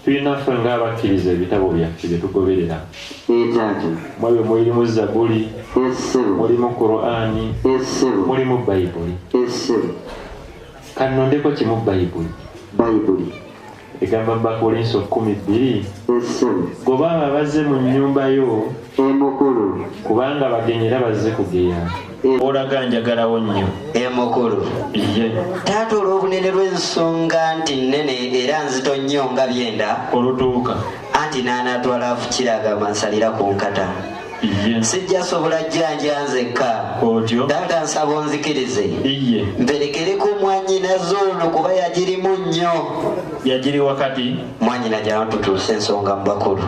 Tulina ffe ng'abakkiriza ebitabo byaffe bye tugoberera. Ekyaki? Mu ebyo mulimu Zabuli. Essiru. Mulimu Kuraani. Essiru. Mulimu Bayibuli. Essiru. Kannondeko kimu Bayibuli. Bayibuli. Egamba mu Bakolinso kkumi bbiri. Essiru. Goba abo abazze mu nnyumba yo. emukulu kubanga bagenyi era bazze kugeya olaga njagalawo nnyo emukulu ye taata olw'obunene lw'ensonga nti nnene era nzito nnyo nga byenda olutuuka anti n'anaatwala afukiraga mansalira ku nkata sijja sobola jjanja nzekka otyo taata nsaba onzikirize iye mperekereko mwanyina zoono kuba yagirimu nnyo yagiri wakati mwanyina gyawantutuusa ensonga mu bakulu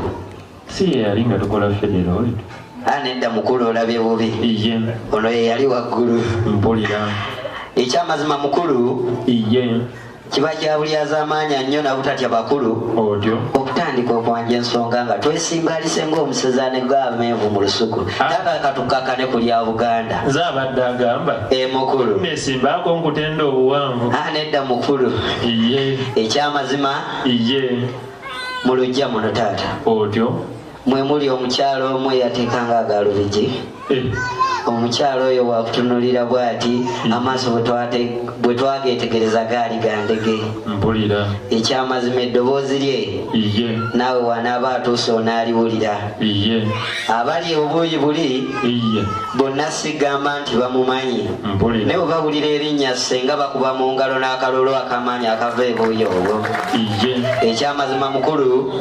si yeyali nga tukola federal ah, nedda mukulu olabye bubi iye ono yeyali waggulu mpulira ekyamazima mukulu iye kiba kyabulyazamaanya nnyo nabutatya bakulu otyo okutandika okwanja ensonga nga twesimbalise ngaomusezane gamenvu mu lusuku ah. nakakatukakane ku lya buganda nze abadde agamba e mukulu nesimbaako nkutenda obuwanvu ah, nedda mukulu iye ekyamazima iye mu lujja muno taata otyo mwe muli omukyala omu eyateekanga agalubigi eh. omukyala oyo wakutunulira bwati hmm. amaaso bwe twageetegereza gaali gandege mpulira ekyamazima eddoboozi lye naawe wanaaba atuuse onaaliwulira abali obuuyi buli bonna sigamba nti bamumanyi naye bwebawulira erinnya senga bakuba mu ngalo n'akalulu akamaanyi akava ebuuyi obwo ekyamazima mukulu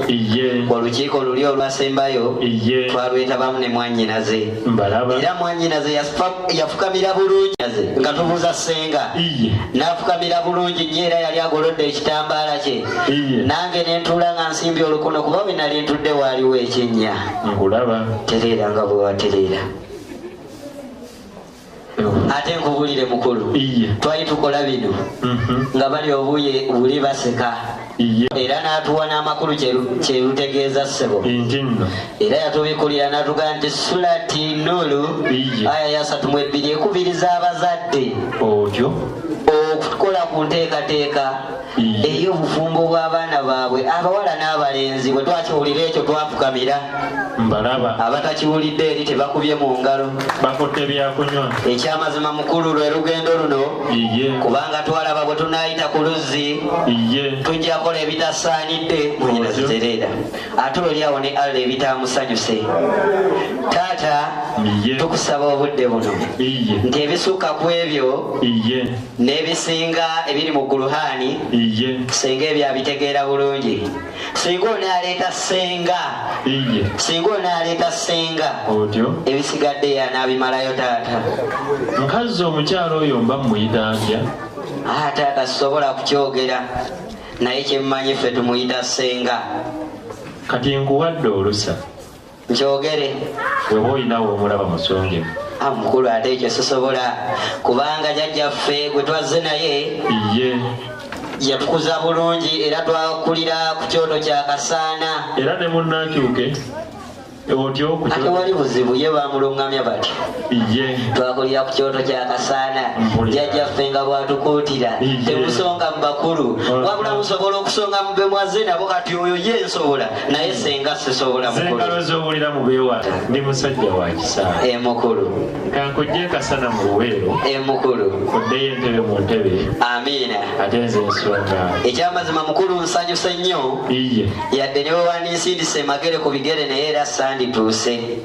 olukiiko luli olwasembayo twalwetabamu ne mwanyinaze era mwanyinaze yafukamira bulungi nga tubuuza senga n'afukamira bulungi nnyo era yali agolodde ekitambaala kye nange nentuula nga nsimbye olukuno kuba bwe nali ntudde waaliwo ekinnya nkulaba tereera nga bwe watereera ate nkubulire mukulu twali tukola bino mhm. nga bali obuye buli baseka era n'atuwa n'amakulu kyerutegeeza ssebo era yatubikulira n'atuga nti sulati nulu aya yasatu mu ebbiri ekubiriza abazadde okukola ku nteekateeka eri obufumbo bw'abaana baabwe abawala n'abalenzi bwe twakiwulira ekyo twafukamira mbalaba abatakiwulidde eri tebakubye mu ngalo bakutte byakunywa ekyamazima mukulu lwe lugendo luno iye kubanga twalaba bwe tunaayita ku luzzi iye tujja kola ebitasaanidde mwenyina zitereera ate oli awo ne allah ebitaamusanyuse taata tukusaba obudde buno nti ebisukka ku ebyo n'ebisinga ebiri mu guluhaani iye singa ebyo abitegeera bulungi singa onaaleeta senga iye singa onaaleeta senga otyo ebisigadde yanaabimalayo taata nkazzi omukyalo oyo mba mumuyita ntya aa taata sisobola kukyogera naye kyemmanyi ffe tumuyita senga kati nkuwadde olusa njogere weba olinawo omulaba musonge ah, mukulu ate ekyo sisobola kubanga jajjaffe gwe twazze naye ye yatukuza bulungi era twakulira ku kyoto kya kasaana era ne munnakyuke otyo ate wali buzibu ye bamulungamya bati twakulira ku kyoto kya kasaana jajjaffe nga bwatukuutira temusonga mu bakulu wabula musobola okusonga mube mwazze nabo kati oyo ye nsobola naye senga sisobola mukulu zowulira mubewala ndi musajja wa kisaa e eh, mukulu kankujje kasana mu luweero e eh, mukulu oddeyo entebe mu ntebe amiina ate nze nsonga ekyamazima mukulu nsanyuse nnyo iye yadde ne wewandinsindise emagere ku bigere naye era sandituuse